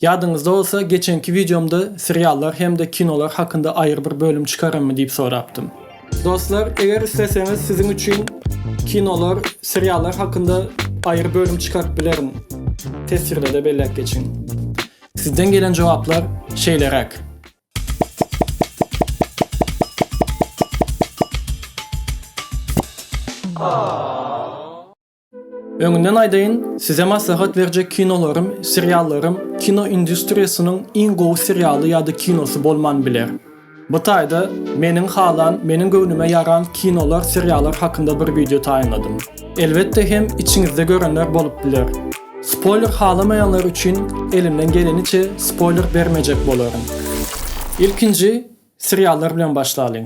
Ýadyňyzda bolsa, geçenki wideomda seriallar hem-de kinolar hakynda aýry bir bölüm çykararmy diýip sorapdym. Dostlar, eger isleseňiz siziň üçin kinolar, seriallar hakynda aýry bölüm çykaryp bilerin. Teswirde-de belläp geçiň. Sizden gelen jogaplar şeýleräk. Öňünden aýdaýyn, size maslahat berjek kinolarym, seriallarym kino industriýasynyň iň gowy serialy ýa-da kinosy bolman biler. Bu taýda meniň halan, meniň göwnüme ýaran kinolar, seriallar hakynda bir wideo taýynladym. Elbetde hem içiňizde görenler bolup biler. Spoýler halamaýanlar üçin elimden geleniçe spoýler bermejek bolaryn. Ilkinji seriallar bilen başlalyň.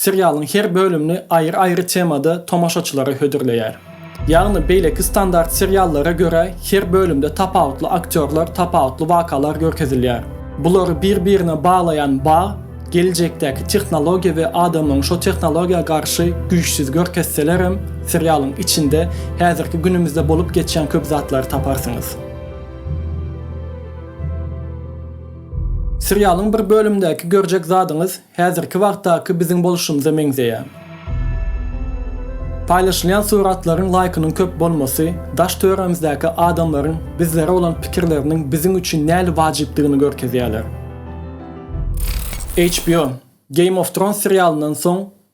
Serialyň her bölümini aýry-aýry temada tomaşaçylara hödürleýär. Ýagny beýleki standart seriallara görä her bölümde tapawutly aktýorlar, tapawutly wakalar görkezilýär. Bulary bir-birine baglaýan bag, geljekdäki tehnologiýa we adamyň şo tehnologiýa garşy güýçsüz görkezselerem, serialyň içinde häzirki günümizde bolup geçýän köp zatlary taparsyňyz. Serialyň bir bölümindäki görjek zadyňyz Häzirki wagtdaky biziň boluşymyza meňzeýär. Paýlaşylýan suratlaryň laýkynyň köp bolmasy daş töremizdäki adamlaryň bizlere bolan pikirleriniň biziň üçin näli wajypdygyny görkezýärler. HBO, Game of Thrones serialyndan soň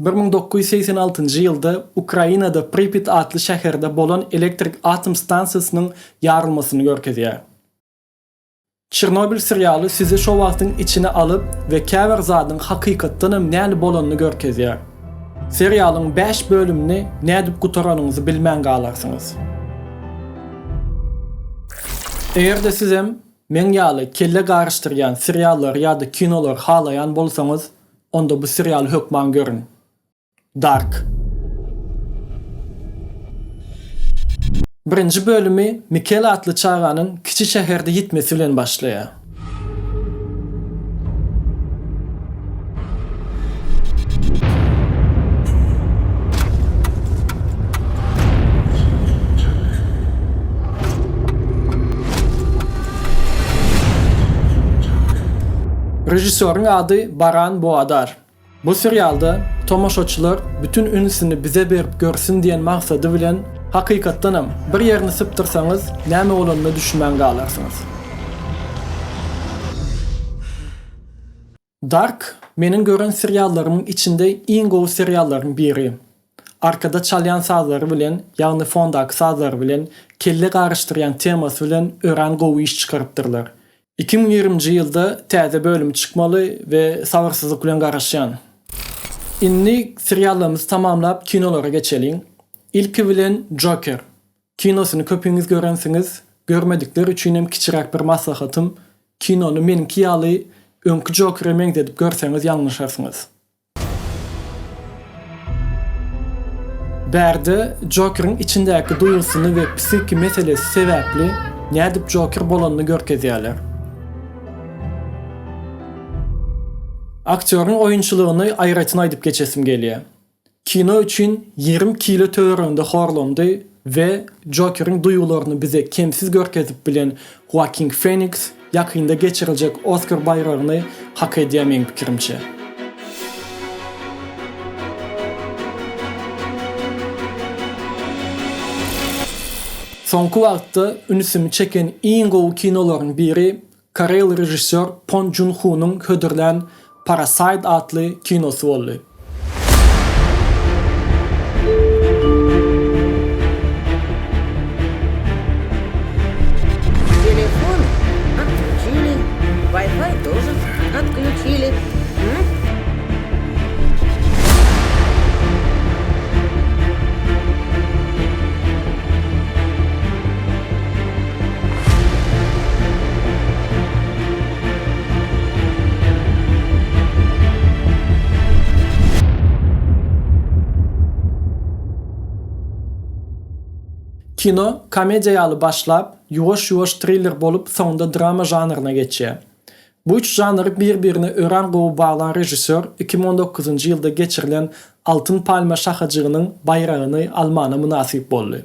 Bir müň dokuz ýüz segsen altynjy ýylda Ukrainada Pripýat atly şäherde bolan elektrik atom stansiýasynyň ýarylmasyny görkezýär. Çernobil serialy sizi şo wagtyň içine alyp we käbir zadyň hakykatdanam näl bolanyny görkezýär. Serialyň bäş bölümini nädip gutaranyňyzy bilmän galarsyňyz. Eger-de sizem meň ýaly kelle garyşdyrýan seriallary ýa-da kinolary halaýan bolsaňyz, Onda bu serialy hökman görüň. Dark. Birinji bölümi Mikel atly çaganyň kiçi şäherde ýitmesi bilen başlaýar. Režissýoryň ady Baran Boadar. Bu serialda tomaşaçylar bütin ünsüni bize berip görsün diýen maksady bilen hakykatdanam bir ýerini sypdyrsaňyz näme bolanyna düşünmän galarsyňyz. Dark meniň gören seriallarymyň içinde iň gowy seriallaryň biri. Arkada çalýan sazlary bilen, ýagny fondaky sazlary bilen, kelle garyşdyrýan temasy bilen örän gowy iş çykarypdyrlar. Iki müň ýigriminji ýylda täze bölüm çykmaly we sabyrsyzlyk bilen garaşýan. Indi seriallarymyzy tamamlap kinolara geçeliň. Ilki bilen Joker kinosyny köpüňiz görensiňiz, görmedikler üçinem kiçiräk bir maslahatym, kinony meniňki ýaly öňki Jokere meňzedip görseňiz ýalňyşarsyňyz. Bärde Jokeriň içindäki duýgusyny we psihiki meselesi sebäpli nädip Joker bolanyny görkezýärler. Aktýoryň oýunçylygyny aýratyn aýdyp geçesim gelýär. Kino üçin ýigrimi kilo töwereginde horlandy, We Jokeriň duýgularyny bize kemsiz görkezip bilen Hoakin Feniks ýakynda geçiriljek Oskar baýragyny hak edýär meň pikirimçe. Soňky wagtda ünsümi çeken iň gowy kinolaryň biri Koreýaly režissýor Pon Jun Hunyň hödürlän Parasite atly kinosy boldy. Kino komediýa ýaly başlap, ýuwaş-ýuwaş triller bolup soňunda drama žanryna geçýär. Bu üç žanry bir-birine örän gowy baglan režissýor iki müň on dokuzynjy ýylda geçirilen Altyn palma şahajygynyň baýragyny almana mynasyp boldy.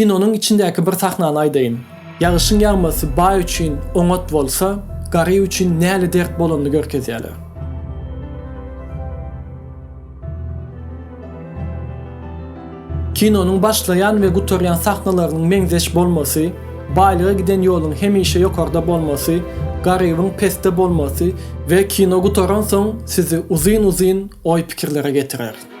Kinonyň içindäki bir sahnany aýdaýyn. Ýagyşyň ýagmasy baý üçin oňat bolsa, garyp üçin näle dert bolanyny görkezýärler. Kinonyň başlaýan we gutarýan sahnalarynyň meňzeş bolmasy, baýlyga giden ýoluň hemişe ýokarda bolmasy, garybyň pesde bolmasy we kino gutaransoň sizi uzyn-uzyn oý-pikirlere getirer.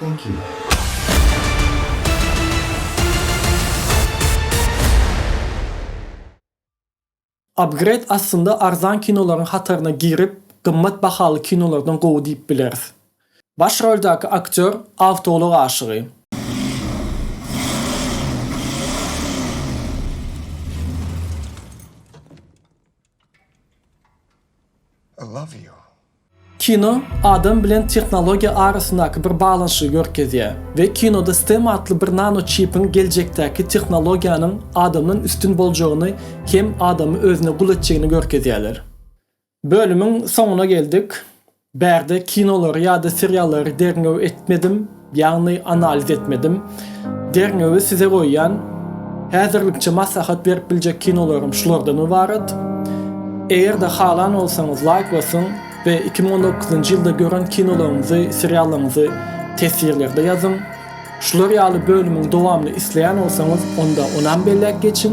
Thank you. Upgrade aslynda arzan kinolaryň hataryna girip gymmat bahaly kinolardan gowy diýip bileris. Baş roldäki aktýor awtoulag aşygy. I love you. Kino adam bilen tehnologiýa arasyndaky bir baglanyşygy görkezýär we kinoda STEM atly bir nanoçipiň geljekdäki tehnologiýanyň adamdan üstün boljagyny hem adamy özüne gul etjegini görkezýärler. Bölümiň soňuna geldik. Bärde kinolary ýa-da seriallary derňew etmedim. Ýagny analiz etmedim. Derňewi size goýýan. Häzirlikçe maslahat berip biljek kinolarym şulardan ybarat. Eger-de halan bolsaňyz laýk basyň we iki müň on dokuzynjy ýylda gören kinolaryňyzy, seriallaryňyzy teswirlerde ýazyň. Şular ýaly bölümiň dowamyny isleýän bolsaňyz onda onam belläp geçiň.